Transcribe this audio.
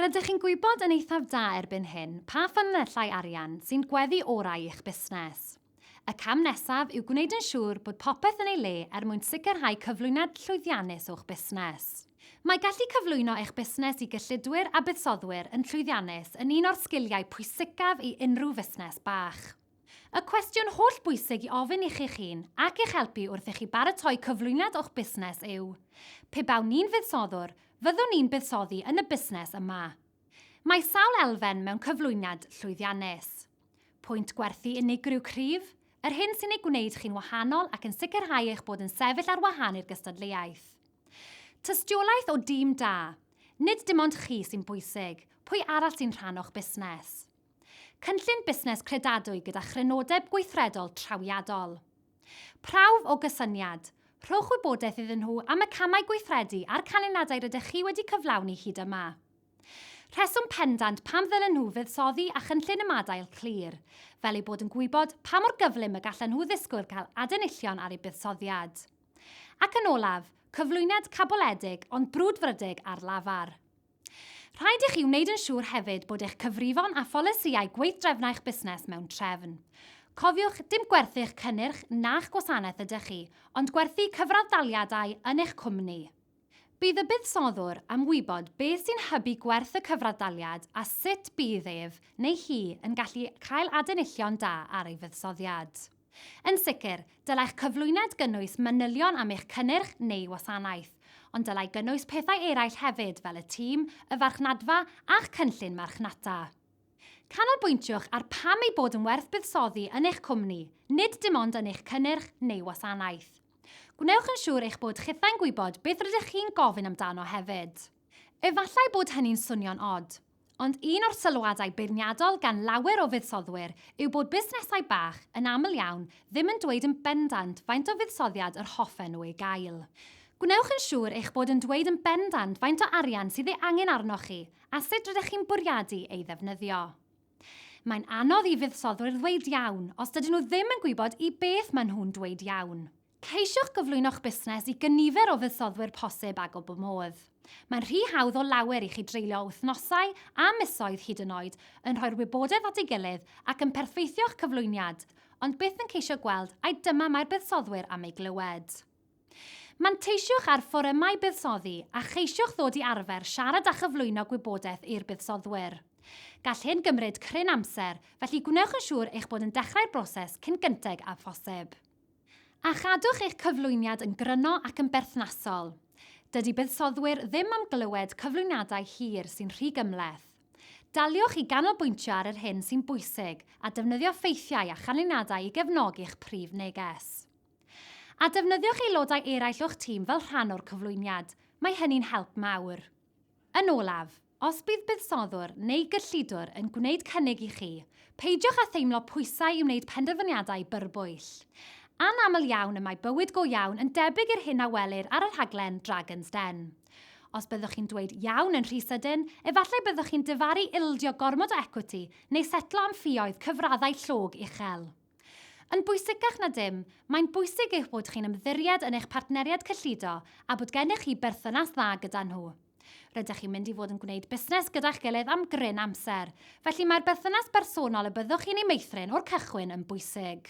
Rydych chi'n gwybod yn eithaf da erbyn hyn pa ffynonellau arian sy'n gweddu orau i'ch busnes. Y cam nesaf yw gwneud yn siŵr bod popeth yn ei le er mwyn sicrhau cyflwyniad llwyddiannus o'ch busnes. Mae gallu cyflwyno eich busnes i gyllidwyr a buddsoddwyr yn llwyddiannus yn un o'r sgiliau pwysicaf i unrhyw fusnes bach. Y cwestiwn holl bwysig i ofyn i chi'ch hun ac i'ch helpu wrth i chi baratoi cyflwyniad o'ch busnes yw, Pe bawn i'n fuddsoddwr, fyddwn i'n buddsoddi yn y busnes yma? Mae sawl elfen mewn cyflwyniad llwyddiannus. Pwynt gwerthu unigryw cryf, yr hyn sy'n ei gwneud chi'n wahanol ac yn sicrhau eich bod yn sefyll ar wahân i'r gystadleuaeth. Tystiolaeth o dîm da, nid dim ond chi sy'n bwysig, pwy arall sy'n rhan o'ch busnes? Cynllun busnes credadwy gyda chrynodeb gweithredol trawiadol. Prawf o gysyniad, rhowch wybodaeth iddyn nhw am y camau gweithredu a'r canlyniadau rydych chi wedi cyflawni hyd yma. Rheswm pendant pam ddylen nhw fuddsoddi a chynllun ymadael clir, fel eu bod yn gwybod pa mor gyflym y gallen nhw ddisgwyl cael adenillion ar eu buddsoddiad. Ac yn olaf, cyflwyniad caboledig ond brwdfrydig ar lafar. Rhaid i chi wneud yn siŵr hefyd bod eich cyfrifon a pholisïau gweithdrefnau'ch busnes mewn trefn. Cofiwch, dim gwerthu'ch cynnyrch na'ch gwasanaeth ydych chi, ond gwerthu cyfradd-daliadau yn eich cwmni. Bydd y buddsoddwr am wybod beth sy'n hybu gwerth y cyfradd-daliad a sut bydd ef neu hi yn gallu cael adenillion da ar ei fuddsoddiad. Yn sicr, dylai'ch cyflwyniad gynnwys manylion am eich cynnyrch neu wasanaeth, ond dylai gynnwys pethau eraill hefyd fel y tîm, y farchnadfa a'ch cynllun marchnata. Canolbwyntiwch ar pam ei bod yn werth buddsoddi yn eich cwmni, nid dim ond yn eich cynnyrch neu wasanaeth. Gwnewch yn siŵr eich bod chithau'n gwybod beth rydych chi'n gofyn amdano hefyd. Efallai bod hynny'n swnio'n od, ond un o'r sylwadau beirniadol gan lawer o fuddsoddwyr yw bod busnesau bach yn aml iawn ddim yn dweud yn bendant faint o fuddsoddiad yr hoffen nhw ei gael. Gwnewch yn siŵr eich bod yn dweud yn bendant faint o arian sydd ei angen arnoch chi a sut rydych chi'n bwriadu ei ddefnyddio. Mae'n anodd i fuddsoddwyr ddweud iawn os dydyn nhw ddim yn gwybod i beth maen nhw'n dweud iawn. Ceisiwch gyflwyno'ch busnes i gynifer o fuddsoddwyr posib ag o bob modd. Mae'n rhy hawdd o lawer i chi dreulio wythnosau a misoedd hyd yn oed yn rhoi'r wybodaeth at ei gilydd ac yn perthweithio'ch cyflwyniad, ond byth yn ceisio gweld ai dyma mae'r buddsoddwyr am ei glywed. Manteisiwch ar fforymau buddsoddi a cheisiwch ddod i arfer siarad a chyflwyno gwybodaeth i'r buddsoddwyr. Gall hyn gymryd cryn amser, felly gwnewch yn siŵr eich bod yn dechrau'r broses cyn gynteg â phosib. A chadwch eich cyflwyniad yn gryno ac yn berthnasol. Dydy buddsoddwyr ddim am glywed cyflwyniadau hir sy'n rhy gymhleth. Daliwch i ganolbwyntio ar yr hyn sy'n bwysig a defnyddio ffeithiau a chanlyniadau i gefnogi'ch prif neges. A defnyddiwch aelodau eraill o'ch tîm fel rhan o'r cyflwyniad, mae hynny'n help mawr. Yn olaf, Os bydd buddsoddwr neu gyllidwr yn gwneud cynnig i chi, peidiwch â theimlo pwysau i wneud penderfyniadau byrbwyll. Anaml iawn y mae bywyd go iawn yn debyg i'r hyn a welir ar y rhaglen Dragon's Den. Os byddwch chi'n dweud 'iawn' yn rhy sydyn, efallai byddwch chi'n difaru ildio gormod o ecwiti neu setlo am ffioedd cyfraddau llog uchel. Yn bwysicach na dim, mae'n bwysig eich bod chi'n ymddiried yn eich partneriaid cyllido a bod gennych chi berthynas dda gyda nhw. Rydych chi'n mynd i fod yn gwneud busnes gyda'ch gilydd am gryn amser, felly mae'r berthynas bersonol y byddwch chi'n ei meithrin o'r cychwyn yn bwysig.